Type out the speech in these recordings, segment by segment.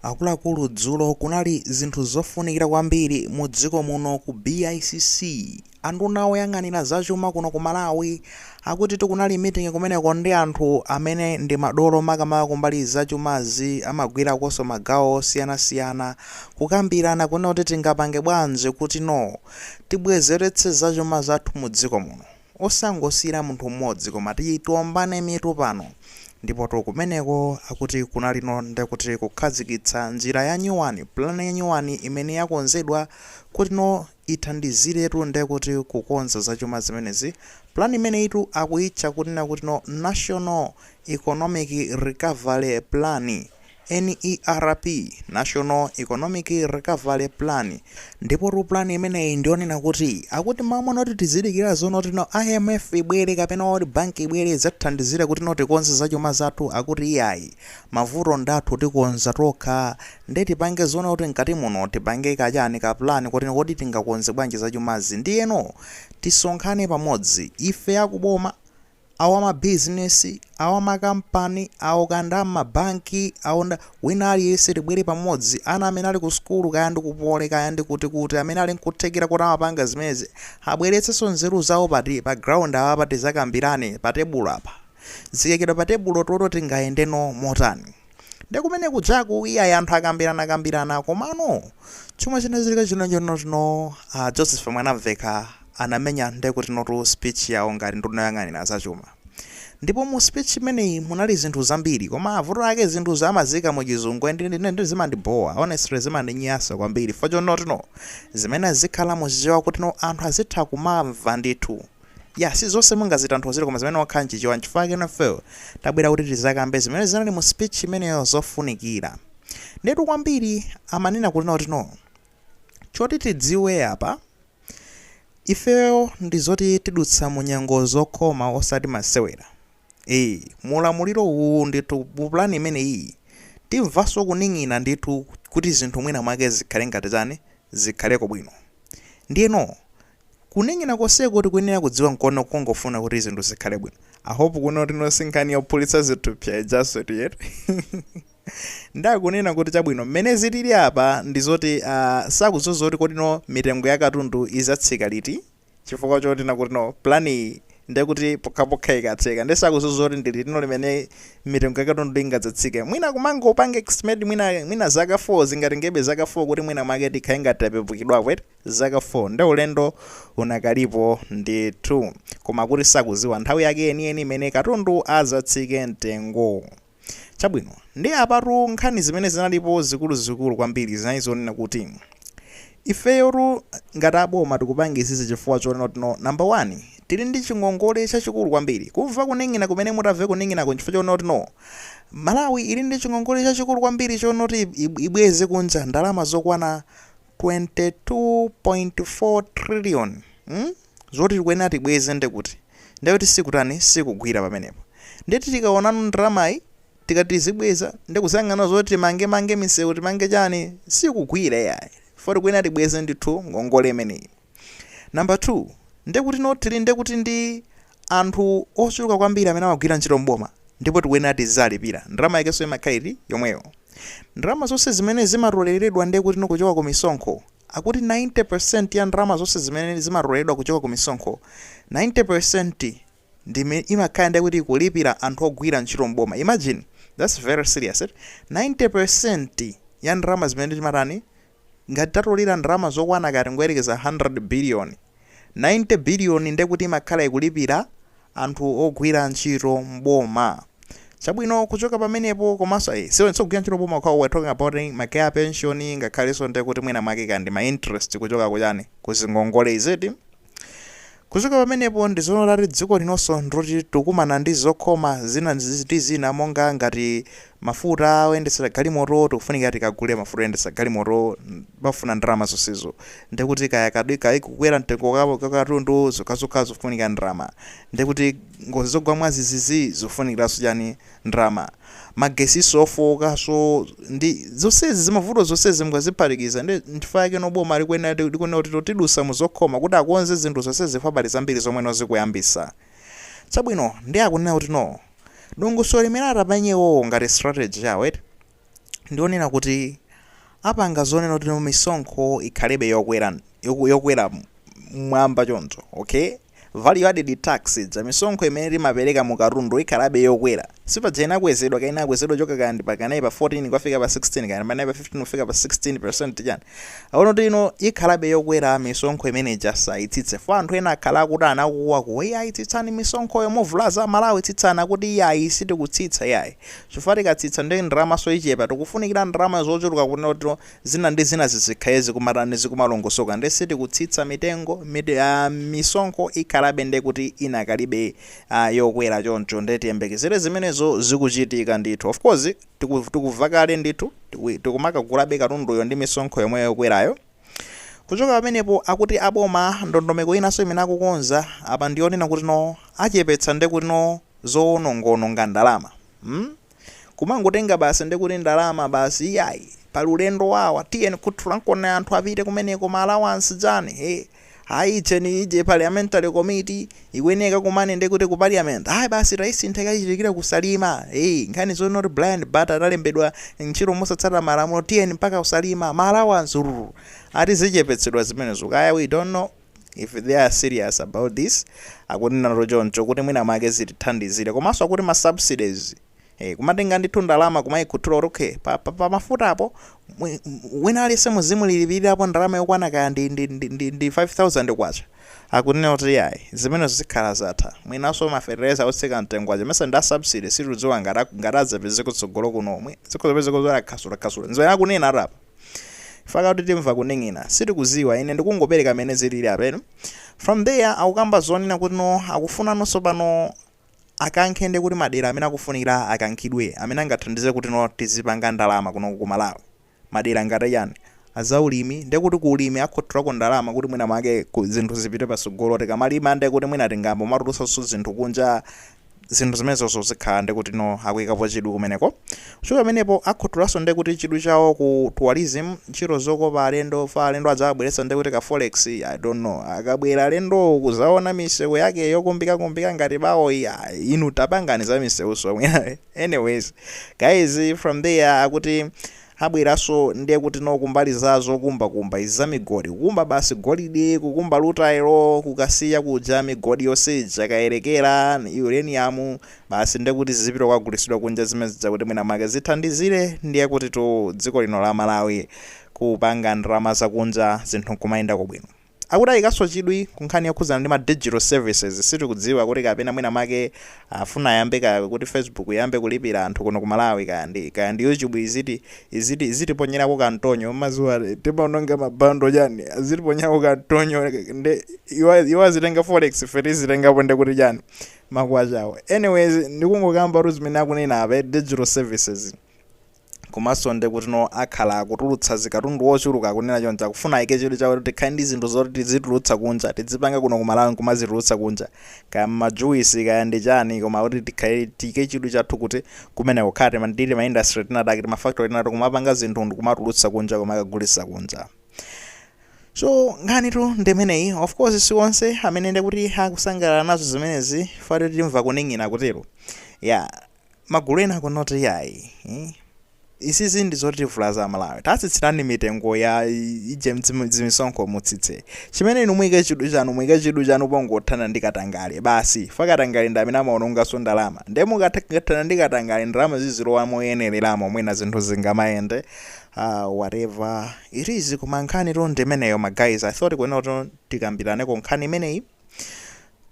Akuluakulu dzulo kunali zinthu zofunikira kwambiri mu dziko muno ku BICC. Anduna oyang'anira zachuma kuno ku Malawi akutitu kunali meeting kumeneko ndi anthu amene ndi madolo makamaka kumbali ya zachumazi amagwirakonso magawo osiyanasiyana kukambirana kunena kuti tingapange bwanji kuti no tibwezeretse zachuma zathu mu dziko muno. Osangosiyira munthu mmodzi koma tiye tiombane mitu pano. Ndipotu kumeneko akuti kunalino nde kuti kukhazikitsa njira yanyuwani, plan yanyuwani imene yakonzedwa kutino ithandiziretu nde kuti kukonza zachuma zimenezi. Plan imeneyitu akuyitcha kunena kutino National Economic Recovery Plan. NERP, National Economic Recovery Plan, Ndipotu plan imeneyi ndiyonena kuti akuti mmalo monoti tizidikira zonotino IMF ibwere kapena World Bank ibwere idzatithandizire kutino tikonze zachuma zathu akuti iyayi, mavuto ndathu tikonza tokha nde tipange zonena kuti mkati muno tipange kachani ka plan kotino kodi tingakonze bwanji zachumazi ndiyeno tisonkhane pamodzi ife akuboma, a wa mabizinesi, a wa makampani, awo akanda m'mabanki, awonda, wina aliyense tibwere pamodzi, ana amene ali ku sukulu, kaya ndi ku Poly, kaya ndi kuti kuti, amene ali nkuthekera kuti amapanga zimenezi, abweretsenso nzeru zawo pati pa ground apapa tizakambirane pa tebulo apa. Zikaikidwa pa tebulo tione tingayendeno motani? nde kumene kujaku iyayi anthu akambiranakambirana komano chomwe chinachitika chinachonotino uh, joseph mwanamveka anamenya nde kutinotu speech yawo ngati nduna yoyang'anira zachuma ndipo mu speech imeneyi munali zinthu zambiri koma mavuto ake zinthu amaziika mu chizungu and ndi- ndi- ndi zimandibowa honestly zimandinyansa kwambiri fo chonotino zimenezi zizikhala muchichewa kutino anthu azitha kumamva ndithu Yah si zonse mungazitanthauzire koma zimayenera kukhala mchichewa nchifukwa chake nafeo tabwera kuti tizakambe zimene zinali mu speech imeneyo zofunikira ndiyetu kwambiri amanena kunena kuti no choti tidziwe apa ifeo ndi zoti tidutsa mu nyengo zokhoma osati masewera ee mu ulamuliro uwu ndithu mu plan imeneyiyi timvanso kuning'ina ndithu kuti zinthu mwina mwake zikhale ngati chani zikhaleko bwino ndiyeno Kuning'ina konseko tikuyenera kudziwa nkono kungofuna kuti zinthu zikhale bwino. I hope kunena kutino si nkhani yophulitsa zithupsa ijanso tu eti? Nde akunena kuti chabwino mmene zilili apa ndi zoti aah sakudziwa zoti kodino mitengo ya katundu izatsika liti chifukwa chonena kutino plan iyi ndekuti pokhapokha ikatheka nde sakudziwa zoti ndi litino limene mitengo ya katundu ingadzatsike mwina kumangopanga estimate mwina mwina zaka 4 zingatengebe zaka 4 kuti mwina mwake tikhale ngati tapepukidwapo eti? zaka 4 nde ulendo unakalipo ndithu koma kuti sakuziwa nthawi yake yeniyeni imene katundu azatsike mtengo chabwino nde apatu nkhani zimene zinalipo zikuluzikulu kwambiri zinali zonena kuti ifeyotu ngati aboma tikupanga izizi chifukwa chonena kuti no number 1 tili ndi chingongole chachikulu kwambiri kumva kuning'ina kumene mutamve kuning'inako nchifukwa chonena kuti no malawi ili ndi chingongole chachikulu kwambiri chonena kuti ibweze kunja ndalama zokwana 22.4 trillion mm zoti tikuyenera tibweze nde kuti nde kuti sikutani sikugwira pamenepo nde tikaonano ndalamayi tikati tizibweza nde kuyang'ana zoti timange mange misewu timange chani sikugwira yayi fo tikuyenera tibweze ndithu ngongole imeneyi Number 2, ndekuti no tili ndekuti ndi anthu ochuluka kwambiri amene amagwira ntchito m'boma ndipo tikuyenera tiziwalipira. Ndalama yakenso imakhala iti yomweyo. Ndalama zonse zimene zimatoleredwa ndekuti no kuchoka ku misonkho, akuti 90% ya ndalama zonse zimene zimatoleredwa kuchoka ku misonkho, 90% ndi imene imakhala ndekuti ikulipira anthu ogwira ntchito m'boma. Imagine, that's very serious eti. 90% ya ndalama zimene timatani Ngati tatolera ndalama zokwana kaya tingoyerekeza 100 biliyoni, 90 biliyoni ndiye kuti imakhala ikulipira anthu ogwira ntchito m'boma. Chabwino kuchoka pamenepo komanso ayi, si onse ogwira ntchito m'boma okhawo, we're talking about ma kaya pension ngakhalenso ndiye kuti mwina mwake kaya ndi ma interest kuchoka kuchani, ku zingongole is it? Kuchoka pamenepo ndi zonena kuti dziko linonso ndiloti tikukumana ndi zokhoma zina ndi zina monga ngati mafuta oyendetsera galimoto tikufunika tikagule mafuta oyendetsera galimoto pafuna ndalama zonsezo ndiye kuti kaya kukwera mtengo kwa katundu zokhazokha zikufunika ndalama ndiye kuti ngozi zogwa mwazizizi zikufunikiranso chani ndrama, magetsiso ofookaso ndi zonsezi zimavuto zonsezi mukaziphatikiza nde nchifukwa yake no boma likuyenera likunena kuti no tidusa muzokhoma kuti akonze zinthu zonsezi chifukwa pali zambiri zomwe no zikuyambisa chabwino nde akunena kuti no dongosolo limene atapange iwowo ngati strategy yawo eti ndi lonena kuti apanga zonena kuti no misonkho ikhalebe yokwera yoku- yokwera mwamba choncho okay value added tax ija misonkho imene timapereka mu katundu ikhalabe yokwera sipaja inakwezedwa kaya inakwezedwa kuchoka kaya ndi pa kaya ndi pa 14 kufika pa 16 kaya ndi pa 15 kufika pa 16 percent chani aona kuti no ikhalabe yokwera misonkho imene ija sayitsitse fo anthu ena akhala akukuwa kuti iyayi tsitsani misonkhoyo muvulaza amalawi tsitsani akuti iyayi sitikutsitsa iyayi Chifukwa tikatsitsa nde ndalamaso ichepa, tikufunikira ndalama zochuluka kuti zina ndi zina zizikhala zikumatani, zikumalongosoka nde sitikutsitsa mitengo, mit a misonkho ikhalabe nde kuti inakalibe a yokwera choncho nde tiyembekezere zimenezo zikuchitika ndithu of course tiku tikuva kale ndithu tiku tikumakagulabe katunduyo ndi misonkho yomweyo yokwerayo. Kuchoka pamenepo akuti aboma ndondomeko inanso imene akukonza apa ndi yonena kuti no achepetsa nde kuti no zowonongaononga ndalama hmm kumangotenga basi nde kuti ndalama basi iyayi pali ulendo wawa tiyeni kut lankon anthu apite kumeneko ma allowance chani hee Ayi icheni ije parliamentary committee ikuyenera ikakumane ndi kuti ku parliament ayi basi taisintha ikachitikire kusalima eyi nkhani zo not blind but analembedwa ntchito mosatsata malamulo tiyeni mpaka kusalima ma allowance ati zichepetsedwa zimenezo kaya we don't know if they are serious about this akunenatu choncho kuti mwina mwake zitithandizire komanso akuti ma subsidies Eh, kumatenga ndithu ndalama kumayikhuthula kuti okay pa, pa, pa mafuta apo mwi- m- wina aliyense muzimulipirirapo ndalama yokwana kaya ndi, ndi, ndi, ndi, ndi 5000 kwacha akunena kuti yayi zimene zikhala zatha mwinanso mafertilizer otsika mtengo aja mesa ndi a subsidy sitikudziwa ngati ak- ngati adzapeze kutsogolo kuno omwe zikhozapeze kuzora khasulakhasula nzoyena akunena ati apa faka kuti timva kuning'ina sitikuziwa ine ndikungopereka mmene zilili apeno from there akukamba zonena kuti no akufunanso pano akankhe nde kuti madera amene akufunikira akankhidwe amene angathandize kutino tizipanga ndalama kunoko ku malawi madera ngati achani azaulimi nde kuti ku ulimi akhuthulako ndalama kuti mwina mwake zinthu zipite patsogolo tikamalima nde kuti mwina tingambomatulutsanso zinthu kunja zinthu zimenezozo zikhala nde kutino akuikapo chidwi kumeneko Kuchoka pamenepo akhuthulanso nde kuti chidwi chawo ku tourism, ntchito zokopa alendo, fa alendo adzawabweretsa nde kuti ka forex, I don't know. Akabwera alendowo kuzaona misewu yake yokumbikakumbika ngati bawoyi, ah, inu tapangani za misewunso mwina. Anyways, guys from there akuti abweranso nde kuti no kumbali za zokumbakumba izi za migodi, kukumba basi golide, kukumba rutile, ku Kasiya kuja migodi yonse ija, Kayelekera, uranium, Basi nde kuti zizipita kukagulisidwa kunja zimenezi zakuti mwina mwake zithandizile ndiye kuti tu dziko lino la Malawi kupanga ndalama za kunja zinthu nkumayendako bwino. Akuti ayikanso chidwi ku nkhani yokhudzana ndi ma digital services sitikudziwa kuti kapena mwina mwake afuna ayambe kaya kuti Facebook iyambe kulipila anthu kuno ku Malawi kaya ndi kaya ndi YouTube iziti iziti izitiponyelako ka mtonyo mmaziwa timaononga ma bundle chani azitiponyako ka mtonyo nde iwo iwo azitenga forex ife tizitengapo nde kuti chani makwachawo anyways ndikungokambatu zimene akunena apa eti digital services komanso ndekutino akhala akutulutsa zikatundu wochuluka akunena choncho akufuna ayike chidwi chawo kuti tikhale ndi zinthu zoti tizitulutsa kunja tidzipanga kuno ku malawi nkumazitulutsa kunja kaya majuwisi kaya ndi chani koma kuti tikhale tiyike chidwi chathu kuti kumene kukhala ndi tima industry tinatake timafactory tinatake kumapanga zinthu ndikumatulutsa kunja kumakagulitsa kunja so nkhanitu ndimeneyi of course si onse amene ndikuti akusangalala nazo zimenezi poti timva kuning'ina kutero magulu ena akunena kuti yayi eh? isizi ndi zotivulaza Amalawi tatsitsirani mitengo ya ije mdzim- dzimisonkho mutsitse chimene inu muyike chidwi chanu muyike chidwi chanu pongothana ndi katangale basi pa katangale ndi amene amaonongetsa ndalama nde mukathana ndi katangale ndalama zizilowa moyenereramo mwina zinthu zingamayende Aaa whatever it is koma nkhanitu ndi imeneyo ma guys, I thought kunena kuti tikambiraneko nkhani imeneyi.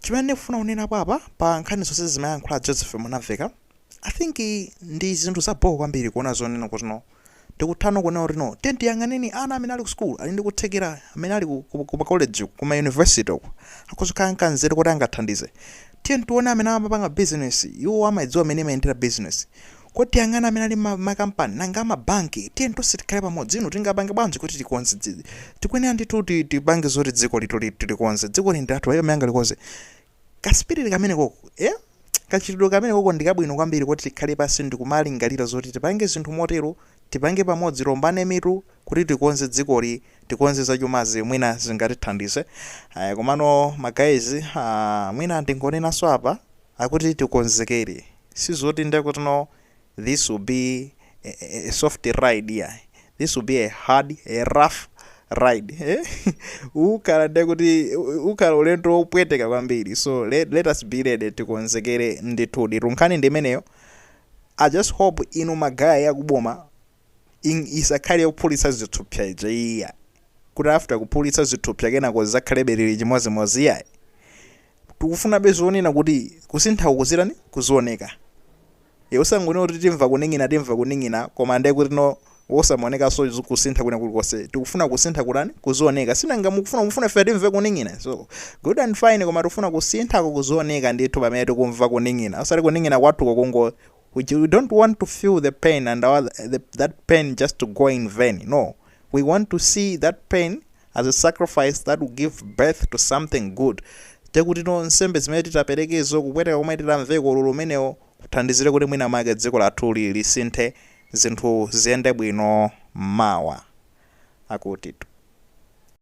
Chimene ndikufuna kunena apapa pa nkhani zonse zimene ayankhula a Joseph Mwanamvekha, I think ndi zinthu za bho kwambiri kuona zonena kuti no tikutha kuona kuti no tiyeni tiyang'aneni ana amene ali ku school, ali ndi kuthekera, amene ali ku, ku, ku ma college uku, ku ma university uku, akhoza kukhala ndi nzeru kuti angathandize. Tiyeni tione amene amapanga business, iwo amadziwa mmene imayendera business. Kuti tiyang'ane amene ali mma ma kampani, nanga a ma banki? Tiyeni tonse tikhale pamodzi, inu tingapange bwanji kuti tikonze dzi, tikuyenera ndithu kuti ti, tipange zoti dziko lathuli, tilikonze. Dzikoli ndi lathu, palibe amene angalikonze. Ka spirit kamene koko, eh? Kachitidwe kamene koko ndi kabwino kwambiri koti tikhale pansi ndi kumalingalira zoti tipange zinthu motero, tipange pamodzi, tiwombane mitu kuti tikonze dzikoli, tikonze za chumazi mwina zingatithandize. Ayi komano ma guys, ah, mwina ndingonenanso apa, akuti tikonzekere. Sizoti nde kuti no this will be a soft ride iyayi this will be a hard a rough ride eh? ukhala ndiye kuti ukhala ulendo wopweteka kwambiri so let, let us be ready tikonzekere ndithudi tu nkhani ndi imeneyo i just hope inu magaye akuboma Isakhale yophulitsa zithupsa ija iyayi, kuti after kuphulitsa zithupsa kenako zizakhalebe zili chimodzimodzi iyayi. Tikufunabe zonena kuti kusinthako kuzitani, kuzioneka. Eeh, osangonena kuti timva kuning'ina timva kuning'ina koma nde kuti no wosamaonekanso kusintha kwina kulikonse. Tikufuna kusintha kutani, kuzioneka. Sinanga mukufuna mufuna ife timve kuning'ina? So, good and fine koma tikufuna kusinthako kuzioneka ndithu pamene tikumva kuning'ina. Osati kuning'ina kwathuko kungo we don't want to feel the pain and our the, that pain just to go in vain no we want to see that pain as a sacrifice that will give birth to something good ndekuti no nsembe zimene titaperekezo kupweteka komwe titamveko ululu umenewo kuthandizire kuti mwina make dziko lathuli lisinthe zinthu ziyende bwino mawa akutitu